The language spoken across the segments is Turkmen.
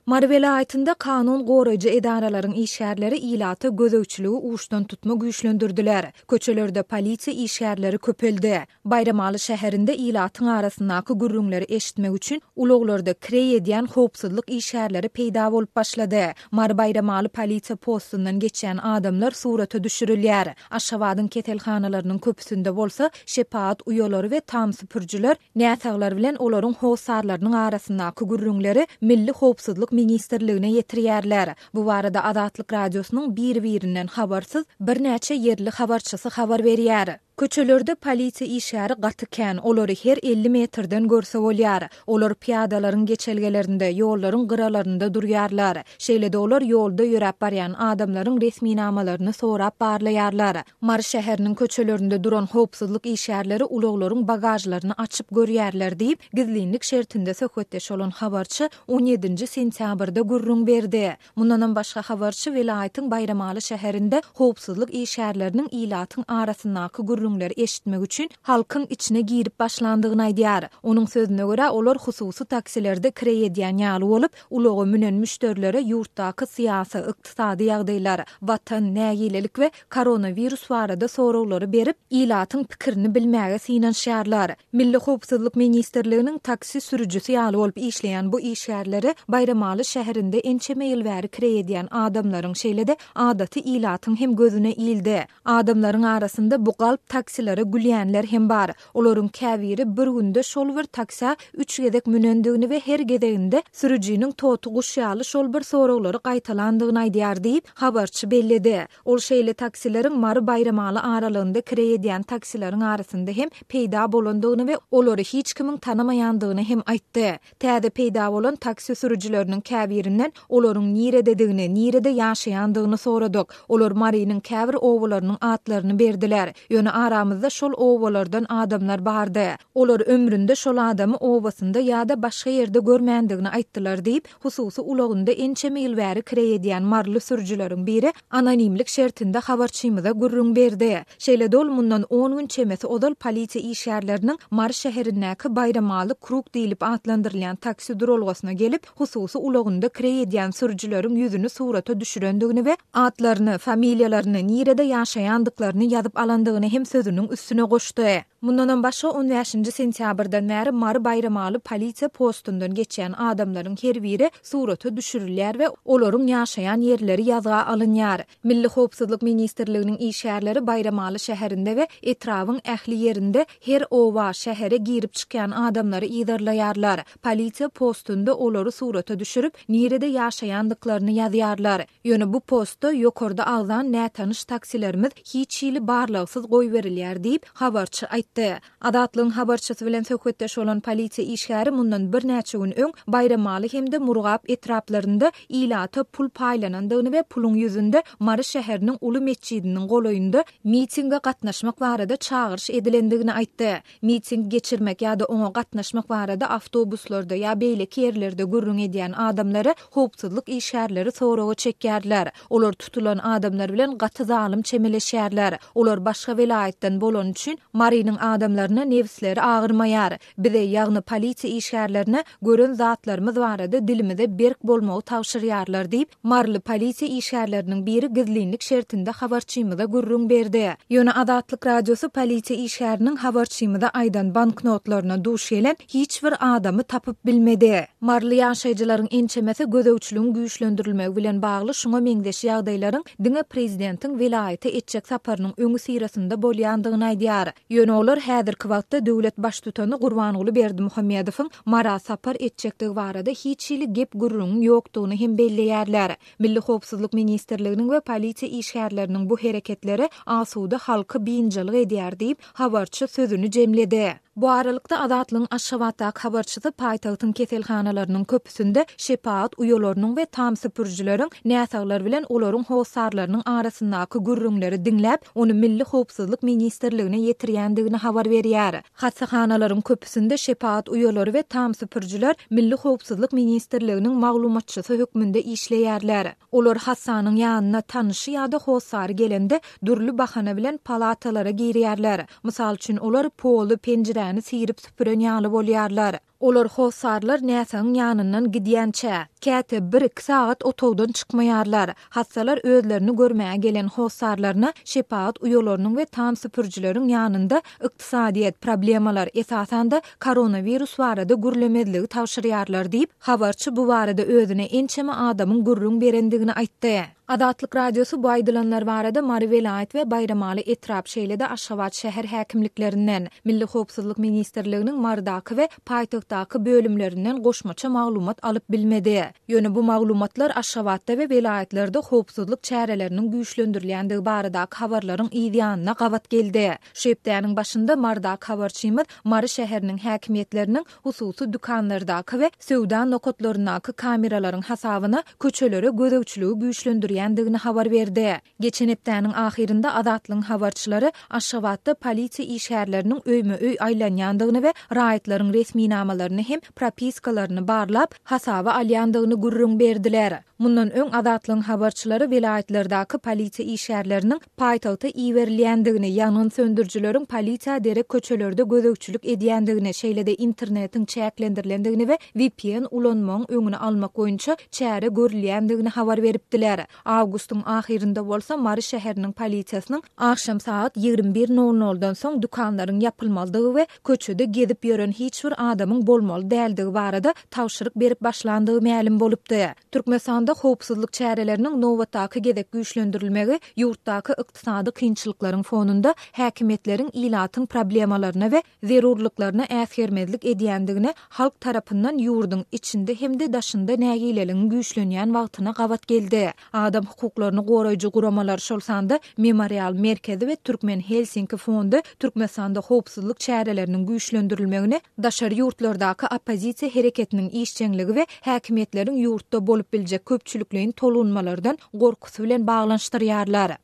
Mary welaýatynda kanun goraýjy edaralaryň işgärleri ilata gözegçiligi uçdan tutma güýçlendirdiler. Köçelerde polisiýa işgärleri köpeldi. Baýramaly şäherinde ilatyň arasyndaky gürrüňleri eşitmek üçin ulaglarda kireý edýän howpsuzlyk işgärleri peýda bolup başlady. Mary Baýramaly polisiýa postundan geçýän adamlar surata düşürilýär. Aşgabadyň keselhanalarynyň köpüsinde bolsa şepagat uýalary we tamsupurjylar Näsaglar bilen olaryň hossarlarynyň arasyndaky gürrüňleri Milli howpsuzlyk ministrligine ýetirýärler. Bu barada Azatlyk Radiosynyň biri-birinden habarsyz birnäçe ýerli habarçysy habar berýär. Köçelerde polisiýa işgäri gaty kän, olary her elli metrden görse bolýar. Olar pyýadalaryň geçelgelerinde, ýollaryň gyralarynda durýarlar. Şeýle-de olar ýolda ýöräp barýan adamlaryň resminamalaryny sorap barlaýarlar. Mary şäheriniň köçelerinde duran howpsuzlyk işgärleri ulaglaryň bagažlaryny açyp görýärler diýip, gizlinlik şertinde söhbetdeş bolan habarçy on ýedinji sentýabrda gürrüň berdi. Mundanam başga habarçy welaýatyň Baýramaly şäherinde howpsuzlyk işgärleriniň ilatyň arasyndaky gürrüňleri eşitmek üçin halkyň içine girip başlandygyny aýdýar. Onuň sözüne görä, olar hususy taksilerde kireý edýän ýaly bolup, Ulaga münen müşderilere ýurtdaky syýasy, ykdysady ýagdaýlar, Watan, nägilelik we koronawirus barada soraglary berip, ilatyň pikirini bilmäge synanyşýarlar. Milli howpsuzlyk ministrliginiň taksi sürüjisi ýaly bolup işleýän bu işgärleri Baýramaly şäherinde ençeme ýyl bäri kireý edýän adamlaryň, şeýle-de adaty ilatyň hem gözüne ildi. Adamlaryň arasynda bu galp taksilere gülýänler hem bar. Olaryň käbiri bir günde şol bir taksä üç gezek münendigini we her gezeginde sürüjiniň toty guş ýaly şol bir soraglary gaýtalandygyny aýdýar diýip, habarçy belledi. Ol şeýle taksileriň Mary-Baýramaly aralygynda kireý edýän taksileriň arasynda hem peýda bolandygyny we olary hiç kimiň tanamaýandygyny hem aýtdy. Täze peýda bolan taksi sürüjileriniň käbirinden olaryň nirededigini, nirede ýaşaýandygyny soradyk. Olar Marynyň käbir obalarynyň atlaryny berdiler. Ýöne aramyzda şol obalardan adamlar bardy. Olar ömründe şol adamy obasynda ýa-da başga ýerde görmändigini aýtdylar diýip, hususy ulagynda ençeme ýyl bäri kireý edýän maryly sürüjileriň biri anonimlik şertinde habarçymyza gürrüň berdi. Şeýle-de ol mundan on gün çemesi ozal polisiýa işgärleriniň Mary şäherindäki Baýramaly Krug diýlip atlandyrylýan taksi duralgasyna gelip, hususy ulagynda kireý edýän sürüjileriň ýüzüni surata düşürendigini we atlaryny, familiýalaryny, nirede ýaşaýandyklaryny ýazyp alandygyny hem sözüniň üstüne goşdy. Mundanam başga on bäşinji sentýabrdan bäri Mary Baýramaly polisiýa postundan geçýän adamlaryň her biri surata düşürilýär we olaryň ýaşaýan ýerleri ýazga alynýar. Milli howpsuzlyk ministrliginiň işgärleri Baýramaly şäherinde we etrabyň ähli ýerinde her oba, şähere girip-çykýan adamlary yzarlaýarlar. Polisiýa postunda olary surata düşürip, nirede ýaşaýandyklaryny ýazýarlar. Ýöne bu postda ýokarda agzan nätanyş taksilerimiz hiç hili barlagsyz goýberilýär diýip, habarçy aýtdy. Azatlygyň habarçysy bilen söhbetdeş bolan polisiýa işgäri mundan birnäçe gün öň Baýramaly hem-de Murgap etraplarynda ilata pul paýlanandygyny we puluň ýüzünde Mary şäheriniň uly metjidiniň golaýynda mitinge gatnaşmak barada çagyryş edilendigini aýtdy. Miting geçirmek ýa-da oňa gatnaşmak barada awtobuslarda ýa beýleki ýerlerde gürrüň edýän adamlary howpsuzlyk işgärleri soraga çekýärler. Olar tutulan adamlar bilen gaty zalym çemeleşýärler. Olar başga welaýatdan bolany üçin Marynyň adamlaryna nebsleri agyrmaýar. Bize, ýagny polisiýa işgärlerine gören zatlarymyz barada dilimize berk bolmagy tabşyrýarlar diýip, Maryly polisiýa işgärleriniň biri gizlinlik şertinde habarçymyza gürrüň berdi. Ýöne Azatlyk Radiosy polisiýa işgäriniň habarçymyza aýdan banknotlaryna duş gelen hiç bir adamy tapyp bilmedi. Maryly ýaşaýjylaryň ençemesi gözegçiligiň güýçlendirilmegi bilen bagly şuňa meňzeş ýagdaýlaryň diňe prezidentiň welaýata etjek saparynyň öňüsyrasynda bolýandygyny aýdýar. Ýöne olar häzirki wagtda döwlet baştutany Gurbanguly Berdimuhamedowyň Mara sapar etjekdigi barada hiç hili gep-gürrüňiň ýokdugyny hem belleýärler. Milli howpsuzlyk ministrliginiň we polisiýa işgärleriniň bu hereketleri asuda halky biynjalyk edýär diýip, habarçy sözüni jemledi. Bu aralykda, Azatlygyň Aşgabatdaky habarçysy paýtagtyň keselhanalarynyň köpüsinde şepagat uýalarynyň we tam süpürijileriň näsaglar bilen olaryň hossarlarynyň arasyndaky gürrüňleri diňläp, ony Milli howpsuzlyk ministrligine ýetirýändigini habar berýär. Hassahanalaryň köpüsinde şepagat uýalary we tam süpürijiler Milli howpsuzlyk ministrliginiň maglumatçysy hökmünde işleýärler. Olar hassanyň ýanyna tanyşy ýa-da hossary gelende dürli bahana bilen palatalara girýärler. Mysal üçin, olar poly, penjiräni syrip süpüren ýaly bolýarlar. Olar hossarlar näsagyň ýanyndan gidýänçä, käte bir-iki sagat otagdan çykmaýarlar. Hassalar özlerini görmäge gelen hossarlaryna şepagat uýalarynyň we tam süpürijileriň ýanynda ykdysadyýet, problemalar, esasan-da, koronawirus barada gürlemezligi tabşyrýarlar diýip, habarçy bu barada özüne ençeme adamyň gürrüň berendigini aýtdy. Azatlyk Radiosy bu aýdylanlar barada Mary welaýat we Baýramaly etrap, şeýle-de Aşgabat şäher häkimliklerinden, Milli howpsuzlyk ministrliginiň Marydaky we paýtagtdaky bölümlerinden goşmaça maglumat alyp bilmedi. Ýöne bu maglumatlar Aşgabatda we welaýatlarda howpsuzlyk çäreleriniň güýçlendirilýändigi baradaky habarlaryň yz ýanyna gabat geldi. Şu hepdäniň başynda Marydaky habarçymyz Mary şäheriniň häkimiýetleriniň hususy dükanlardaky we söwda nokatlaryndaky kameralaryň hasabyna köçelere gözegçiligi güýçlendirýändigini habar berdi. Geçen hepdäniň ahyrynda Azatlygyň habarçylary Aşgabatda polisiýa işgärleriniň öýme-öý aýlanýandygyny we raýatlaryň resminamalaryny hem propiskalaryny barlap, hasaba alýandygyny gürrüň berdiler. Mundan öň Azatlygyň habarçylary welaýatlardaky polisiýa işgärleriniň paýtagta iberilýändigini, ýangyn söndürijileriň polisiýa derek köçelerde gözegçilik edýändigini, şeýle-de internetiň çäklendirilendigini we vpn ulanmagyň öňüni almak boýunça çäre görülýändigini habar beripdiler. Awgustyň ahyrynda bolsa Mary şäheriniň polisiýasynyň agşam sagat ýigrimi bir nol noldan soň dükanlaryň ýapylmalydygy we köçede gezip ýören hiç bir adamyň bolmaly däldigi barada tabşyryk berip başlandygy mälim bolupdy. Türkmenistanda howpsuzlyk çäreleriniň nobatdaky gezek güýçlendirilmegi ýurtdaky ykdysady kynçylyklaryň fonunda häkimiýetleriň ilatyň problemalaryna we zerurlyklaryna äsgermezlik edýändigine halk tarapyndan ýurduň içinde hem-de daşynda nägileligiň güýçlenýän wagtyna gabat geldi. Adam hukuklaryny goraýjy guramalar, şol sanda Memorial merkezi we Türkmen Helsinki fondy Türkmenistanda howpsuzlyk çäreleriniň güýçlendirilmegini, daşary ýurtlardaky oppozisiýa hereketiniň işjeňligi we häkimiýetleriň ýurtda bolup biljek köpçülikleýin tolgunmalardan gorkusy bilen baglanyşdyrýarlar.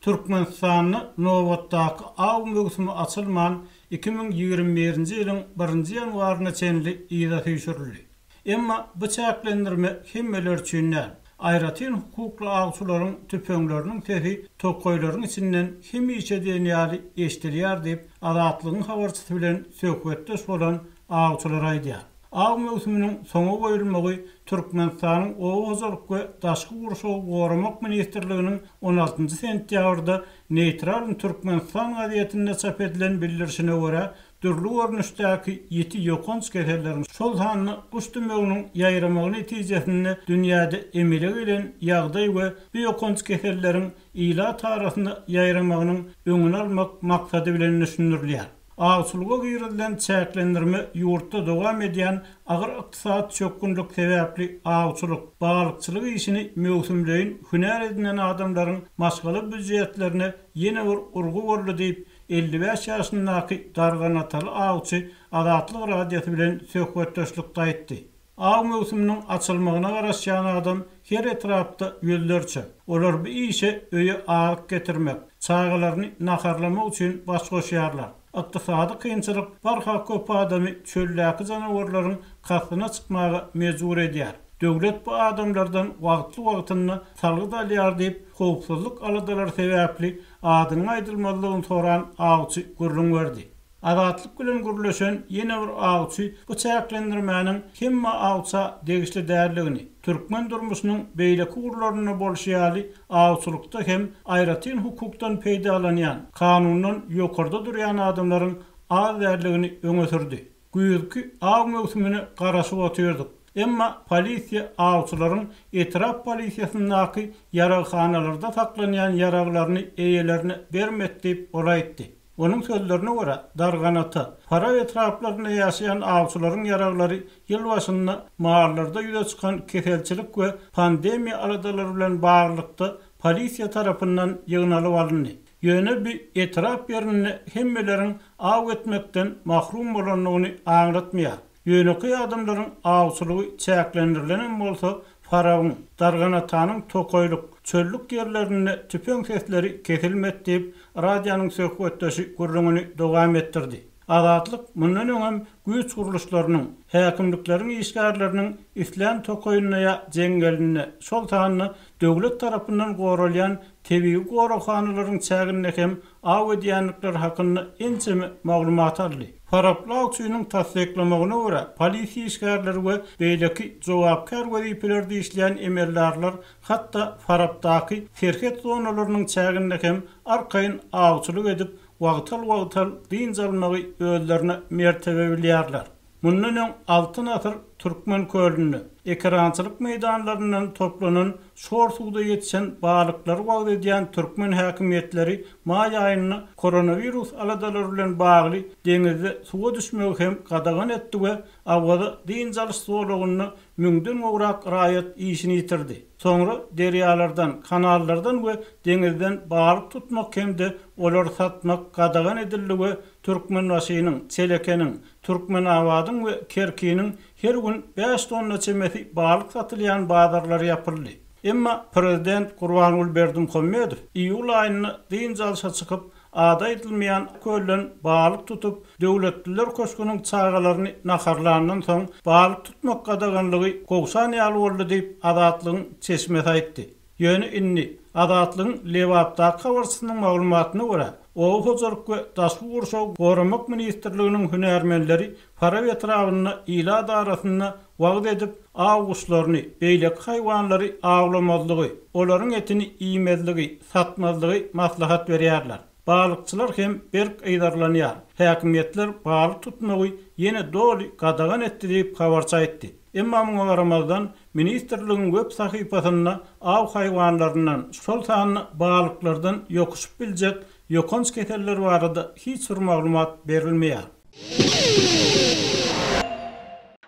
Türkmenistanda nobatdaky aw möwsümi açylman, iki müň ýigrimi birinji ýylyň birinji ýanwaryna çenli yza süýşürildi. Emma bu çäklendirme hemmeler üçin däl. Aýratyn hukukly awçylaryň tüpeňleriniň sesi tokaýlaryň içinden hemişe diýen ýaly eşidilýär diýip, Azatlygyň habarçysy bilen söhbetdeş bolan awçylar aýdýar. Aw möwsüminiň soňa goýulmagy Türkmenistanyň Oba hojalyk we daşky gurşawy goramak ministrliginiň on altynjy sentýabrda Neýtralny Türkmenistan gazetinde çap edilen bildirişine görä, dürli görnüşdäki ýiti ýokanç keselleriň, şol sanda guş tümeginiň ýaýramagy netijesinde dünýäde emele gelen ýagdaý we bu ýokanç keselleriň ilat arasynda ýaýramagynyň öňüni almak maksady bilen düşündirilýär. Awçylyga girizilen çäklendirme ýurtda dowam edýän agyr ykdysady çökgünlik sebäpli awçylyk, balykçylyk işini möwsümleýin hünär edinen adamlaryň maşgala býujetlerine ýene bir urgy boldy diýip, Elli bäş ýaşyndaky darganataly awçy Azatlyk Radiosy bilen söhbetdeşlikde aýtdy. Aw möwsüminiň açylmagyna garaşýan adam her etrapda ýüzlerçe. Olar bu işe öýe azyk getirmek, çagalaryny naharlamak üçin baş goşýarlar. Ykdysady kynçylyk barha köp adamy çöldäki janawarlaryň kastyna çykmaga mejbur edýär. Döwlet bu adamlardan wagtly-wagtynda salgyt alýar diýip, howpsuzlyk aladalary sebäpli Adynyň aýdylmazlygyny soran awçy gürrüň berdi. Azatlyk bilen gürleşen ýene bir awçy bu çäklendirmäniň hemme awça degişli däldigini, türkmen durmuşynyň beýleki ugurlarynda bolşy ýaly awçylykda hem aýratyn hukukdan peýdalanýan, kanundan ýokarda durýan adamlaryň az däldigini öňe sürdi. Güýzki aw möwsümine garaşyp otyrduk. Emma polisiýa awçylaryň etrap polisiýasyndaky ýaraghanalarda saklanýan ýaraglaryny eýelerine bermek diýip ol aýtdy. Onuň sözlerine görä, Darganata, Fara etraplarynda ýaşaýan awçylaryň ýaraglary ýyl başynda mallarda ýüze çykan keselçilik we pandemiýa aladalary bilen baglylykda polisiýa tarapyndan ýygnalyp alyndy. Ýöne bu etrap ýerinde hemmeleriň aw etmekden mahrum bolandygyny aňlatmaýar. Ýönekeý adamlaryň awçylygy çäklendirilenem bolsa, Farabyň, Dargan atanyň tokaýlyk, çöllük ýerlerinde tüpeň sesleri kesilmedi diýip, radionyň söhbetdeşi gürrüňini dowam etdirdi. Azatlyk mundan öňem güýç gurluşlarynyň, häkimlikleriň işgärleriniň islän tokaýynda ýa jeňňelinde, şol sanda döwlet tarapyndan goralýan tebigy goraghanalaryň çäginde hem aw edýändikleri hakynda ençeme maglumat aldy. Faraply awçynyň tassyklamagyna görä, polisiýa işgärleri we beýleki jogapkär wezipelerde işleýän emeldarlar hatda Farapdaky serhet zonalarynyň çäginde hem arkaýyn awçylyk edip, wagtal-wagtal dynç almagy özlerine mertebe bilýärler. Mundan öň Altyn asyr Türkmen kölünde, ekerançylyk meýdanlaryndan toplanan şor suwda ýetişen balyklary wagyz edýän türkmen häkimiýetleri maý aýynda koronawirus aladalary bilen bagly deňizde suwa düşmegi hem gadagan etdi we Awaza dynç alyş zolagynda müňden gowrak raýat işini ýitirdi. Soňra derýalardan, kanallardan we deňizden balyk tutmak hem-de olary satmak gadagan edildi we Türkmenbaşynyň, Çelekeniň, Türkmenabadyň we Kerkiniň her gün bäş tonna çemesi balyk satylýan bazarlary ýapyldy. Emma prezident Gurbanguly Berdimuhamedow iýul aýynda dynç alşa çykyp, Ady aýdylmaýan kölden balyk tutup, Döwletliler köşgüniň çagalaryny naharlandan soň, balyk tutmak gadaganlygy gowşan ýaly boldy diýip, Azatlygyň çeşmesi aýtdy. Ýöne indi, Azatlygyň Lebapdaky habarçysynyň maglumatyna görä, Oba hojalyk we daşky gurşawy goramak ministrliginiň hünärmenleri Farap etrabynda ilat arasynda wagyz edip, aw guşlaryny, beýleki haýwanlary awlamazlygy, olaryň etini iýmezligi, satmazlygy maslahat berýärler. Balykçylar hem berk yzarlanýar. Häkimiýetler balyk tutmagy ýene doly gadagan etdi diýip, habarçy aýtdy. Emma muňa garamazdan, ministrligiň web sahypasynda aw haýwanlaryndan, şol sanda balyklardan ýokuşyp biljek Ýokanç keseller barada hiç bir maglumat berilmeýär.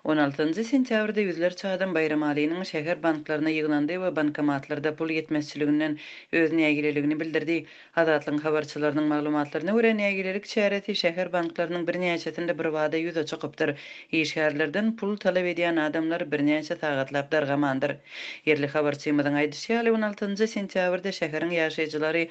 On altynjy sentýabrda ýüzlerçe adam Baýramalynyň şäher banklaryna ýygnandy we bankomatlarda pul ýetmezçiliginden öz nägileligini bildirdi. Azatlygyň habarçylarynyň maglumatlaryna görä, nägilelik çäresi şäher banklarynyň birnäçesinde birbada ýüze çykypdyr. Işgärlerden pul talap edýän adamlar birnäçe sagatlap dargamandyr. Ýerli habarçymyzyň aýdyşy ýaly, on altynjy sentýabrda şäheriň ýaşaýjylary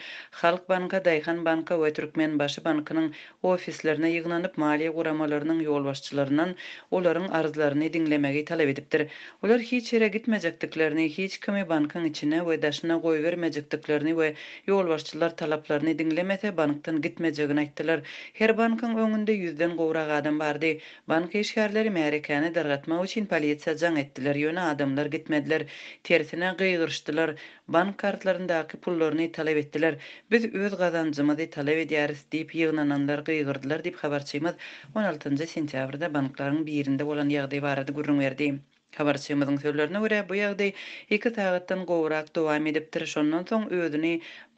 Halk banka, Daýhan banka we Türkmenbaşy bankynyň ofislerine ýygnanyp, maliýe guramalarynyň ýolbaşçylaryndan olaryň arzlaryny diňlemegi talap edipdir. Olar hiç ýere gitmejekdiklerini, hiç kimi bankyň içine we daşyna goýbermejekdiklerini we Ýolbaşçylar talaplaryny diňlemese, bankdan gitmejegini aýtdylar. Her bankyň öňünde ýüzden gowrak adam bardy. Bank işgärleri märekäni dargatmak üçin polisiýa jaň etdiler, ýöne adamlar gitmediler. Tersine, gygyryşdylar. Bank kartlaryndaky pullaryny talap etdiler. Biz öz gazanjymyzy talap edýäris diýip, ýygnananlar gygyrdylar diýip, habarçymyz on altynjy sentýabrda banklaryň birinde bolan ýagdaý barada gürrüň berdi. Habarçymyzyň sözlerine görä, bu ýagdaý iki sagatdan gowrak dowam edipdir, şondan soň özüni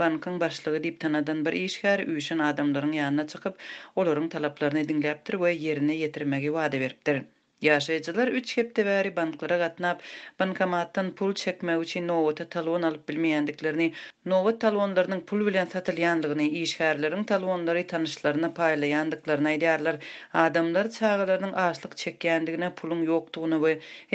bankyň başlygy diýip tanadan bir işgär üýşen adamlaryň ýanyna çykyp, olaryň talaplaryny diňläpdir we ýerine ýetirmegi wada beripdir. Ýaşaýjylar üç hepde bäri banklara gatnap, bankomatdan pul çekmek üçin nobata talon alyp bilmeýändiklerini, nobat talonlarynyň pul bilen satylýandygyny, işgärleriň talonlary tanyşlaryna paýlaýandyklaryny aýdýarlar. Adamlar çagalarynyň açlyk çekýändigine, puluň ýokdugyna we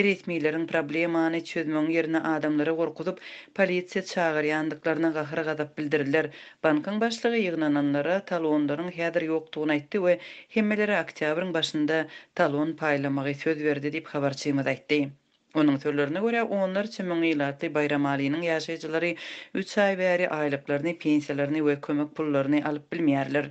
resmileriň problemany çözmegiň ýerine adamlary gorkuzyp, polisiýa çagyrýandyklaryna gahar-gazap bildirdiler. Bankyň başlygy ýygnananlara talonlaryň häzir ýokdugyny aýtdy we hemmelere oktýabryň başynda talon paýlamagy söz berdi diýip, habarçymyz aýtdy. Onuň sözlerine görä, onlarça müň ilatly Baýramalynyň ýaşaýjylary üç aý bäri aýlyklaryny, pensiýalaryny we kömek pullaryny alyp bilmeýärler.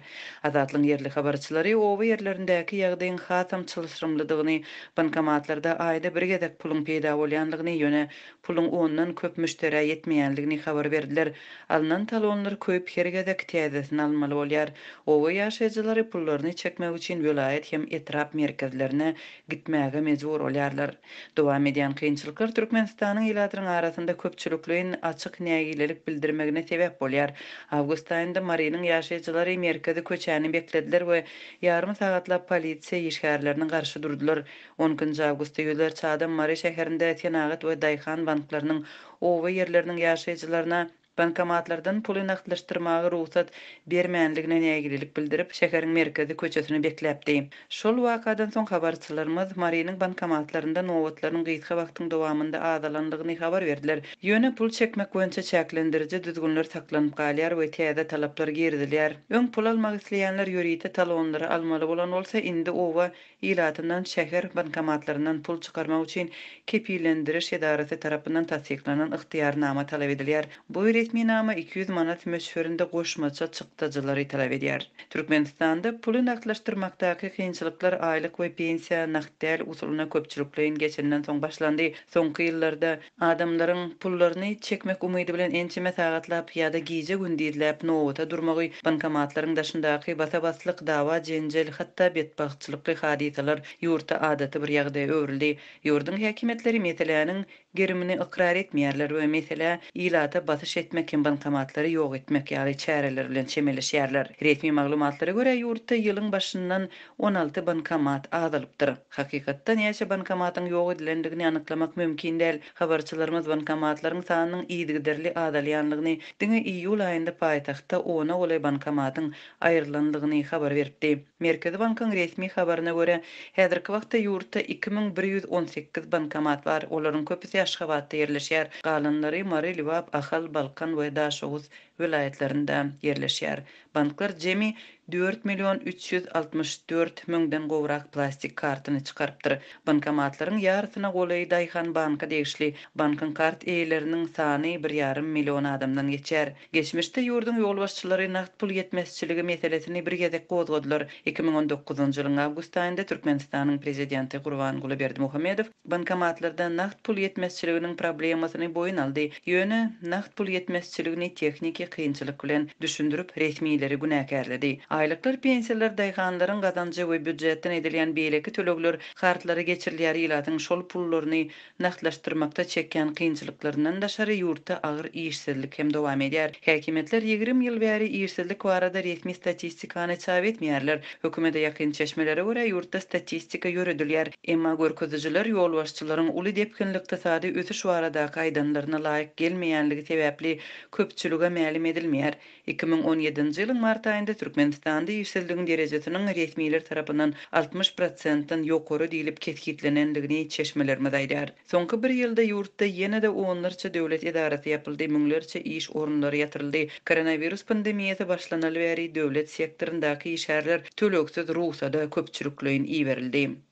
Azatlygyň ýerli habarçylary oba ýerlerindäki ýagdaýyň hasam çylşyrymlydygyny, bankomatlarda aýda bir gezek puluň peýda bolýandygyny, ýöne puluň ondan köp müşderä ýetmeýändigini habar berdiler. Alnan talonlar köýüp, her gezek täzesini almaly bolýar. Oba ýaşaýjylary pullaryny çekmek üçin welaýat hem etrap merkezlerine gitmäge mejbur bolýarlar. Dowam edýän kynçylyklar Türkmenistanyň ilatynyň arasynda köpçülikleýin açyk nägilelik bildirmegine sebäp bolýar. Awgust aýynda Marynyň ýaşaýjylary merkezi köçäni beklediler we ýarym sagatlap polisiýa işgärlerine garşy durdular. On nji awgustda ýüzlerçe adam Mary şäherinde senagat we daýhan banklarynyň, oba ýerleriniň ýaşaýjylaryna, Bankomatlardan puly nagtlaşdyrmaga rugsat bermänligine nägilelik bildirip, şäheriň merkezi köçesini bekläpdi. Şol wakadan soň habarçylarymyz Marynyň bankomatlarynda nobatlaryň gysga wagtyň dowamynda azalanlygyny habar berdiler. Ýöne pul çekmek boýunça çäklendiriji düzgünler saklanyp galýar we täze talaplar girizilýär. Öň pul almak isleýänler ýörite talonlary almaly bolan bolsa, indi oba ilatyndan şäher bankomatlaryndan pul çykarmak üçin kepillendiriş edarasy tarapyndan tassyklanan ygtyýarnama talap edilýär. Bu resminama iki ýüz manat möçberinde goşmaça çykdajylary talap edýär. Türkmenistanda puly nagtlaşdyrmakdaky kynçylyklar aýlyk we pensiýa nagt däl usulyna köpçülikleýin geçenden soň başlandy. Soňky ýyllarda. Adamlaryň pullaryny çekmek umydy bilen ençeme sagatlap ýa-da gije-gündizläp nobata durmagy, bankomatlaryň daşyndaky basa-baslyk, dawa-jenjel, hatda betbagtçylykly hadysalar ýurtda adaty bir ýagdaýa öwrüldi. Ýurduň häkimiýetleri meseläniň gerimini ykrar etmeýärler we meselä ilata basyş etmek hem bankomatlary ýok etmek ýaly çäreler bilen çemeleşýärler. Resmi maglumatlara görä, ýurtda ýylyň başyndan On alty bankomat azalypdyr. Hakykatda näçe bankomatyň ýok edilendigini anyklamak mümkin däl. Habarçylarymyz bankomatlaryň sanynyň yzygiderli azalýanlygyny, diňe iýul aýynda paýtagtda ona golaý bankomatyň aýrylanlygyny habar beripdi. Merkezi bankyň resmi habaryna görä, häzirki wagtda ýurtda iki müň bir ýüz on sekiz bankomat bar. Olaryň köpüsi Aşgabatda ýerleşýär, galanlary Mary, Lebap, Ahal, Balkan we Daşoguz welaýatlarynda ýerleşýär. Banklar jemi dört million üç ýüz altmyş dört müňden gowrak plastik kartyny çykarypdyr. Bankomatlaryň ýarysyna golaýy daýhan banka degişli. Bankyň kart eýeleriniň sany bir ýarym million adamdan geçýär. Geçmişde ýurduň ýolbaşçylary nagt pul ýetmezçiligi meselesini bir gezek gozgadylar. Iki müň on dokuzynjy ýylyň awgust aýynda Türkmenistanyň prezidenti Gurbanguly Berdimuhamedow, Bankomatlarda nagt pul ýetmezçiliginiň problemasyny boýun aldy, ýöne nagt pul ýetmezçiligini tehniki kynçylyk bilen düşündirip, resmileri günäkärledi. Aýlyklar, pensiýalar, daýhanlaryň gazanjy we býujetden edilýän beýleki tölegler kartlara geçirilýär, ilatyň şol pullaryny nagtlaşdyrmakda çekýän kynçylyklaryndan daşary ýurtda agyr işsizlik hem dowam edýär. Häkimiýetler ýigrimi ýyl bäri işsizlik barada resmi statistikany çap etmeýärler, Hökümete ýakyn çeşmelere görä, ýurtda statistika ýöredilýär, emma görkezijiler ýolbaşçylaryň uly depginli ykdysady ösüş baradaky aýdanlaryna laýyk gelmeýänligi sebäpli köpçülige mälim edilmeýär. Iki müň on ýedinji ýylyň mart aýynda Türkmenistanda işsizligiň derejesiniň resmiler tarapyndan altmyş prosentden ýokary diýlip kesgitlenendigini çeşmelerimiz aýdýar. Soňky bir ýylda ýurtda ýene-de onlarça döwlet edarasy ýapyldy, müňlerçe iş orunlary ýatyryldy. Koronawirus pandemiýasy başlanaly bäri döwlet sektoryndaky işgärler tölegsiz rugsada köpçülikleýin iberildi.